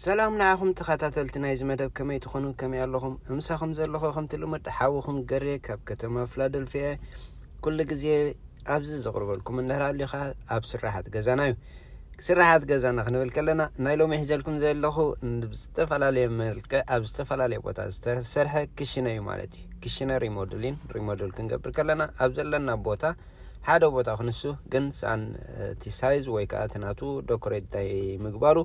ሰላም ንዓኹም ተኸታተልቲ ናይዚ መደብ ከመይ ትኾኑ ከመይ ኣለኹም እምሳኹም ዘለኹ ከምቲ ልሙድ ሓውኹም ገሬ ካብ ከተማ ፍላደልፊያ ኩሉ ግዜ ኣብዚ ዘቕርበልኩም እንድሕር ኣሊኻ ኣብ ስራሓት ገዛና እዩ ስራሓት ገዛና ክንብል ከለና ናይ ሎሚ ሒዘልኩም ዘለኹ ብዝተፈላለየ መልክዕ ኣብ ዝተፈላለየ ቦታ ዝተሰርሐ ክሽነ እዩ ማለት እዩ ክሽነ ሪሞድሊን ሪሞድል ክንገብር ከለና ኣብ ዘለና ቦታ ሓደ ቦታ ክንሱ ግን ሳን እቲ ሳይዝ ወይ ከዓ እቲ ናቱ ዶኮሬት ምግባሩ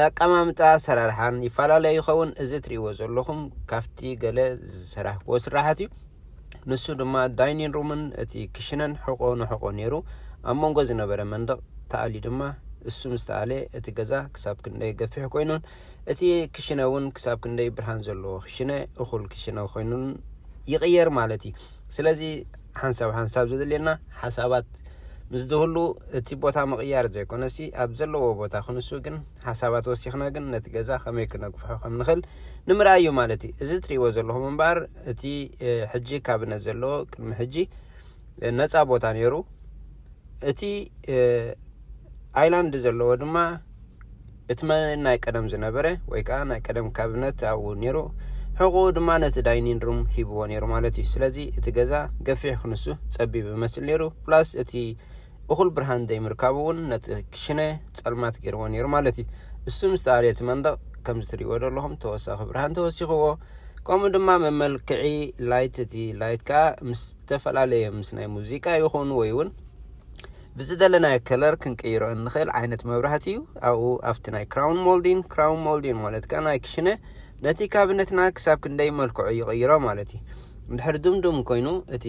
ኣቀማምጣ ኣሰራርሓን ይፈላለ ይኸውን እዚ ትሪእዎ ዘለኹም ካፍቲ ገለ ዝሰራሕክዎ ስራሓት እዩ ንሱ ድማ ዳይኒን ሩምን እቲ ክሽነን ሕቆ ንሕቆ ነይሩ ኣብ መንጎ ዝነበረ መንደቕ ተኣሊ ድማ እሱ ምስ ተኣለ እቲ ገዛ ክሳብ ክንደይ ገፊሕ ኮይኑን እቲ ክሽነ እውን ክሳብ ክንደይ ብርሃን ዘለዎ ክሽነ እኹል ክሽነ ኮይኑን ይቕየር ማለት እዩ ስለዚ ሓንሳብ ሓንሳብ ዘድልየና ሓሳባት ምስ ዝህሉ እቲ ቦታ ምቕያር ዘይኮነሲ ኣብ ዘለዎ ቦታ ክንሱ ግን ሓሳባት ወሲኽና ግን ነቲ ገዛ ከመይ ክነግፍሖ ከም ንኽእል ንምርኣይ እዩ ማለት እዩ እዚ ትሪእዎ ዘለኹም እምበኣር እቲ ሕጂ ካብነት ዘለዎ ቅድሚ ሕጂ ነፃ ቦታ ነይሩ እቲ ኣይላንድ ዘለዎ ድማ እቲ መን ናይ ቀደም ዝነበረ ወይ ከኣ ናይ ቀደም ካብነት ኣብኡ ነይሩ ሕቁኡ ድማ ነቲ ዳይኒን ሩም ሂብዎ ነይሩ ማለት እዩ ስለዚ እቲ ገዛ ገፊሕ ክንሱ ጸቢብ ይመስል ነይሩ ፕላስ እቲ እኹል ብርሃን ዘይምርካቡ እውን ነቲ ክሽነ ጸልማት ገይርዎ ነይሩ ማለት እዩ እሱ ምስ ተኣልየ እቲ መንደቕ ከምዚ ትሪእዎ ዘለኹም ተወሳኺ ብርሃን ተወሲኽዎ ከምኡ ድማ መመልክዒ ላይት እቲ ላይት ከኣ ምስ ዝተፈላለየ ምስ ናይ ሙዚቃ ይኹን ወይ እውን ብዝደለናዮ ከለር ክንቅይሮ እንኽእል ዓይነት መብራህቲ እዩ ኣብኡ ኣብቲ ናይ ክራውን ሞልዲን ክራውን ሞልዲን ማለት ከዓ ናይ ክሽነ ነቲ ካብነትና ክሳብ ክንደይ መልክዑ ይቕይሮ ማለት እዩ እንድሕር ድምዱም ኮይኑ እቲ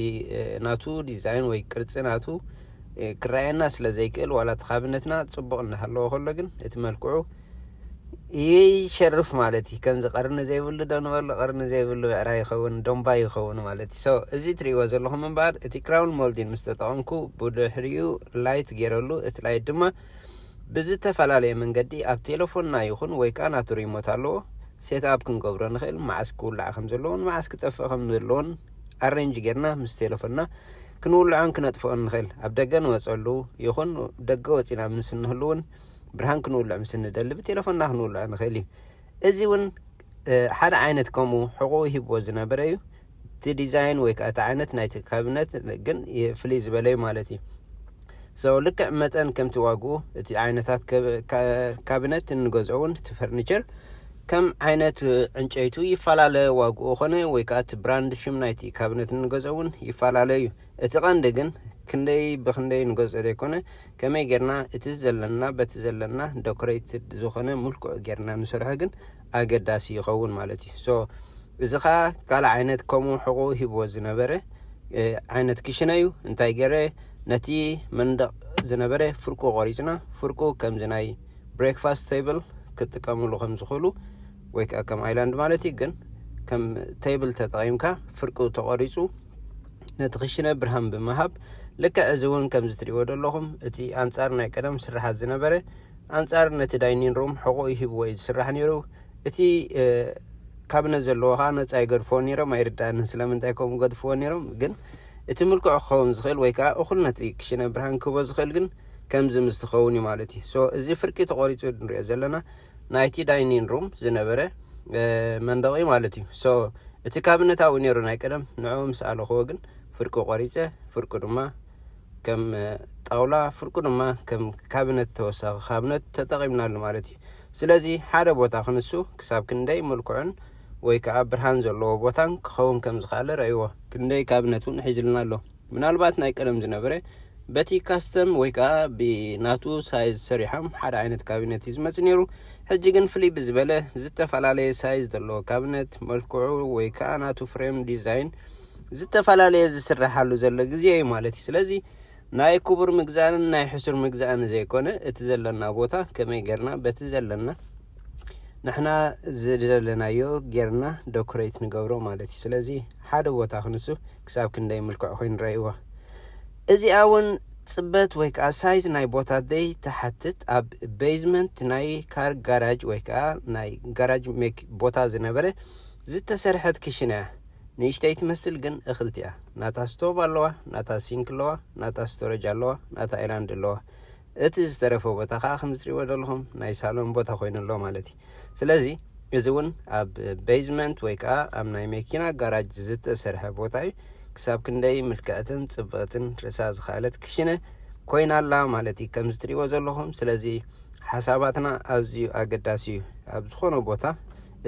ናቱ ዲዛይን ወይ ቅርፂ ናቱ ክረኣየና ስለ ዘይክእል ዋላ እቲ ካብነትና ፅቡቕ እናሃለዎ ከሎ ግን እቲ መልክዑ ይሸርፍ ማለት እዩ ከምዚ ቀርኒ ዘይብሉ ዶ ንበሎ ቀርኒ ዘይብሉ ብዕራ ይኸውን ዶምባ ይኸውን ማለት እዩ ሶ እዚ ትሪእዎ ዘለኹም እምበኣር እቲ ክራውን ሞልዲን ምስ ተጠቐምኩ ብድሕሪኡ ላይት ገይረሉ እቲ ላይት ድማ ብዝተፈላለየ መንገዲ ኣብ ቴሌፎንና ይኹን ወይ ከዓ ናቱ ሪሞት ኣለዎ ሴት ኣፕ ክንገብሮ ንኽእል መዓስ ክውላዕ ከም ዘለዎን መዓስ ክጠፍእ ከም ዘለዎን ኣሬንጅ ጌርና ምስ ቴሌፎንና ክንውልዖን ክነጥፍኦን ንኽእል ኣብ ደገ ንወፀሉ ይኹን ደገ ወፂና ምስ እንህልውን ብርሃን ክንውልዕ ምስ እንደሊ ብቴለፎንና ክንውልዖ ንኽእል እዩ እዚ እውን ሓደ ዓይነት ከምኡ ሕቑኡ ሂብዎ ዝነበረ እዩ እቲ ዲዛይን ወይ ከዓ እቲ ዓይነት ናይቲ ካብነት ግን ፍልይ ዝበለ እዩ ማለት እዩ ሰው ልክዕ መጠን ከምቲ ዋግኡ እቲ ዓይነታት ካብነት እንገዝኦ እውን እቲ ፈርኒቸር ከም ዓይነት ዕንጨይቱ ይፈላለ ዋግኡ ኾነ ወይ ከዓ እቲ ብራንድ ሽም ናይቲ ካብነት እንገዝኦ እውን ይፈላለ እዩ እቲ ቀንዲ ግን ክንደይ ብክንደይ ንገዝኦ ዘይኮነ ከመይ ጌርና እቲ ዘለና በቲ ዘለና ዶክሬትድ ዝኾነ ምልኩዕ ጌርና ንሰርሖ ግን ኣገዳሲ ይኸውን ማለት እዩ ሶ እዚ ከኣ ካልእ ዓይነት ከምኡ ሕቑ ሂብዎ ዝነበረ ዓይነት ክሽነ እዩ እንታይ ገረ ነቲ መንደቕ ዝነበረ ፍርቁ ቆሪጽና ፍርቁ ከምዚ ናይ ብሬክፋስት ቴብል ክጥቀምሉ ከም ዝኽእሉ ወይ ከዓ ከም ኣይላንድ ማለት እዩ ግን ከም ቴብል ተጠቒምካ ፍርቁ ተቖሪፁ ነቲ ክሽነ ብርሃን ብምሃብ ልክዕ እዚ እውን ከምዚ ትሪእዎ ዘለኹም እቲ ኣንጻር ናይ ቀደም ስራሓት ዝነበረ ኣንጻር ነቲ ዳይኒን ሩም ሕቑኡ ሂብዎ እዩ ዝስራሕ ነይሩ እቲ ካብነት ዘለዎ ከዓ ነፃ ይገድፍዎ ነይሮም ኣይርዳእንን ስለምንታይ ከምኡ ገድፍዎ ነይሮም ግን እቲ ምልክዑ ክኸውን ዝኽእል ወይ ከዓ እኹል ነቲ ክሽነ ብርሃን ክህቦ ዝኽእል ግን ከምዚ ምስ ዝኸውን እዩ ማለት እዩ እዚ ፍርቂ ተቖሪፁ ንሪኦ ዘለና ናይቲ ዳይኒን ሩም ዝነበረ መንደቕ እዩ ማለት እዩ ሶ እቲ ካብነት ኣብኡ ነይሩ ናይ ቀደም ንዕኡ ምስ ኣለኽዎ ግን ፍርቁ ቆሪፀ ፍርቁ ድማ ከም ጣውላ ፍርቁ ድማ ከም ካብነት ተወሳኺ ካብነት ተጠቒምናሉ ማለት እዩ ስለዚ ሓደ ቦታ ክንሱ ክሳብ ክንደይ ምልኩዕን ወይ ከዓ ብርሃን ዘለዎ ቦታን ክኸውን ከም ዝኸኣለ ረእይዎ ክንደይ ካብነት እውን ሒዝልና ኣሎ ምናልባት ናይ ቀደም ዝነበረ በቲ ካስተም ወይ ከዓ ብናቱ ሳይዝ ሰሪሖም ሓደ ዓይነት ካቢነት እዩ ዝመፅ ነይሩ ሕጂ ግን ፍልይ ብዝበለ ዝተፈላለየ ሳይዝ ዘለዎ ካቢነት መልክዑ ወይ ከዓ ናቱ ፍሬም ዲዛይን ዝተፈላለየ ዝስራሓሉ ዘሎ ግዜ እዩ ማለት እዩ ስለዚ ናይ ክቡር ምግዛእን ናይ ሕሱር ምግዛእን ዘይኮነ እቲ ዘለና ቦታ ከመይ ገርና በቲ ዘለና ንሕና ዝደለናዮ ጌርና ዶክሬት ንገብሮ ማለት እዩ ስለዚ ሓደ ቦታ ክንሱ ክሳብ ክንደይ ምልክዕ ኮይኑ ረእይዎ እዚኣ እውን ፅበት ወይ ከዓ ሳይዝ ናይ ቦታ ደይ ትሓትት ኣብ ቤዝመንት ናይ ካር ጋራጅ ወይ ከዓ ናይ ጋራጅ ሜክ ቦታ ዝነበረ ዝተሰርሐት ክሽነ እያ ንእሽተይ ትመስል ግን እኽልቲ እያ ናታ ስቶቭ ኣለዋ ናታ ሲንክ ኣለዋ ናታ ስቶረጅ ኣለዋ ናታ ኤላንድ ኣለዋ እቲ ዝተረፈ ቦታ ከዓ ከምዚ ትሪእዎ ዘለኹም ናይ ሳሎን ቦታ ኮይኑ ኣሎ ማለት እዩ ስለዚ እዚ እውን ኣብ ቤዝመንት ወይ ከዓ ኣብ ናይ መኪና ጋራጅ ዝተሰርሐ ቦታ እዩ ክሳብ ክንደይ ምልክዕትን ፅብቕትን ርእሳ ዝኸኣለት ክሽነ ኮይና ኣላ ማለት እዩ ከምዚ ትሪእዎ ዘለኹም ስለዚ ሓሳባትና ኣዝዩ ኣገዳሲ እዩ ኣብ ዝኾነ ቦታ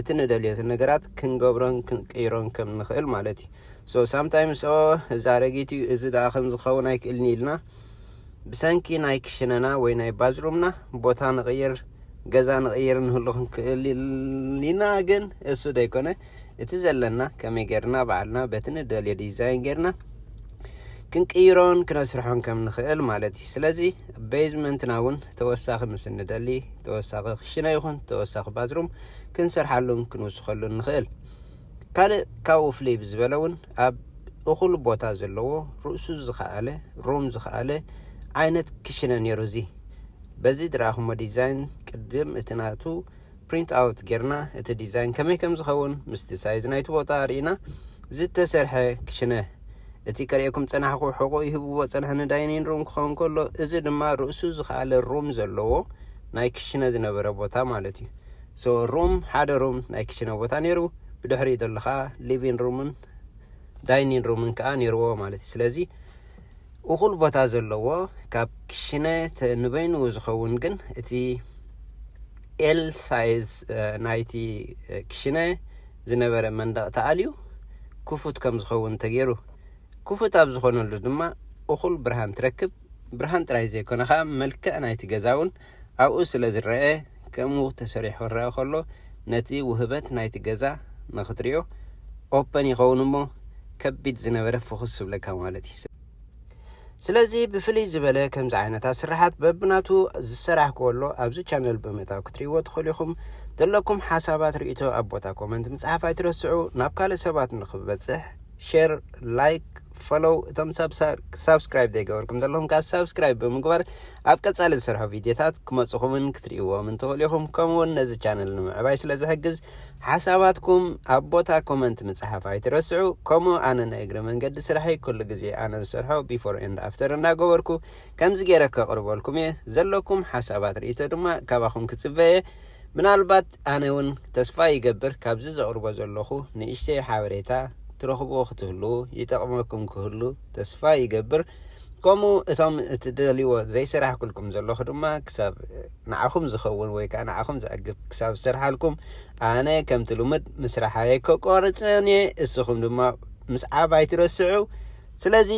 እቲ ንደልዮ ነገራት ክንገብሮን ክንቅይሮን ከም ንኽእል ማለት እዩ ሶ ሳምታይምስ ኦ እዚ ኣረጊት እዩ እዚ ደኣ ከም ዝኸውን ኣይክእልን ኢልና ብሰንኪ ናይ ክሽነና ወይ ናይ ባዝሩምና ቦታ ንቕይር ገዛ ንቕይር ንህሉ ክንክእል ኢና ግን እሱ ዘይኮነ እቲ ዘለና ከመይ ጌርና በዓልና በቲ ንደልዮ ዲዛይን ጌርና ክንቅይሮን ክነስርሖን ከም ንኽእል ማለት እዩ ስለዚ ቤዝመንትና እውን ተወሳኺ ምስ እንደሊ ተወሳኺ ክሽነ ይኹን ተወሳኺ ባዝሩም ክንሰርሓሉን ክንውስኸሉን ንኽእል ካልእ ካብኡ ፍልይ ብዝበለ እውን ኣብ እኹል ቦታ ዘለዎ ርእሱ ዝኸኣለ ሩም ዝኸኣለ ዓይነት ክሽነ ነይሩ እዚ በዚ ድረኣኹሞ ዲዛይን ቅድም እቲ ናቱ ፕሪንት ኣውት ጌርና እቲ ዲዛይን ከመይ ከም ዝኸውን ምስቲ ሳይዝ ናይቲ ቦታ ርኢና ዝተሰርሐ ክሽነ እቲ ከርእየኩም ጸናሕኩ ሕቖ ይህብዎ ጸንሐ ንዳይኒን ሩም ክኸውን ከሎ እዚ ድማ ርእሱ ዝኸኣለ ሩም ዘለዎ ናይ ክሽነ ዝነበረ ቦታ ማለት እዩ So room ሓደ ሩም ናይ ክችነ ቦታ ነይሩ ብድሕሪኡ ዘሎ ከኣ ሊቪን ሩምን ዳይኒን ሩምን ከኣ ነይርዎ ማለት እዩ ስለዚ እኹል ቦታ ዘለዎ ካብ ክሽነ ንበይኑ ዝኸውን ግን እቲ ኤል ሳይዝ ናይቲ ክሽነ ዝነበረ መንደቕ ተኣልዩ ክፉት ከም ዝኸውን ተገይሩ ክፉት ኣብ ዝኾነሉ ድማ እኹል ብርሃን ትረክብ ብርሃን ጥራይ ዘይኮነ ከኣ መልክዕ ናይቲ ገዛ እውን ኣብኡ ስለ ዝረኣ ከምኡ ተሰሪሑ ክረኣ ከሎ ነቲ ውህበት ናይቲ ገዛ ንክትሪኦ ኦፐን ይኸውን እሞ ከቢድ ዝነበረ ፍኹስ ዝብለካ ማለት እዩ። ስለዚ ብፍልይ ዝበለ ከምዚ ዓይነት ኣስርሓት በብናቱ ዝሰራሕ ከሎ ኣብዚ ቻነል ብምእታው ክትሪእዎ ትኽእሉ ኢኹም። ዘለኩም ሓሳባት ሪኢቶ ኣብ ቦታ ኮመንት ምጽሓፍ ኣይትረስዑ። ናብ ካልእ ሰባት ንክበጽሕ ሼር ላይክ ፈሎው እቶም ሳብስክራይብ ዘይገበርኩም ዘለኹም ከዓ ሳብስክራይብ ብምግባር ኣብ ቀፃሊ ዝሰርሖ ቪድዮታት ክመፅኹምን ክትርእይዎምን ትኽእሉ ኢኹም ከምኡውን ነዚ ቻነል ንምዕባይ ስለ ዝሕግዝ ሓሳባትኩም ኣብ ቦታ ኮመንት ምፅሓፍ ኣይትረስዑ ከምኡ ኣነ ናይ እግሪ መንገዲ ስራሐይ ኩሉ ግዜ ኣነ ዝሰርሖ ቢፎር ኤንድ ኣፍተር እናገበርኩ ከምዚ ገይረ ከቕርበልኩም እየ ዘለኩም ሓሳባት ርእቶ ድማ ካባኹም ክፅበየ ምናልባት ኣነ ውን ተስፋ ይገብር ካብዚ ዘቅርቦ ዘለኩ ንእሽተይ ሓበሬታ ትረክብዎ ክትህልዉ ይጠቅመኩም ክህሉ ተስፋ ይገብር ከምኡ እቶም እትደልይዎ ዘይሰራሕኩልኩም ዘለኩ ድማ ክሳብ ንዓኩም ዝከውን ወይ ከዓ ንዓኩም ዘዕግብ ክሳብ ዝሰርሓልኩም ኣነ ከምቲ ልሙድ ምስራሓየ ከቋርፅን እየ እስኩም ድማ ምስዓብ ኣይትረስዑ ስለዚ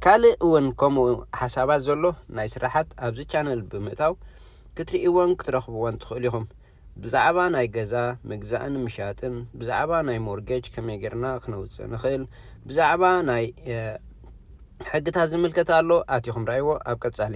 ካልእ እውን ከምኡ ሓሳባት ዘሎ ናይ ስራሓት ኣብዚ ቻነል ብምእታው ክትርእይዎን ክትረኽብዎን ትኽእሉ ኢኹም። ብዛዕባ ናይ ገዛ ምግዛእን ምሻጥን፣ ብዛዕባ ናይ ሞርጌጅ ከመይ ጌርና ክነውጽእ ንኽእል፣ ብዛዕባ ናይ ሕግታት ዝምልከት ኣሎ ኣቲኹም ረኣይዎ ኣብ ቀጻሊ።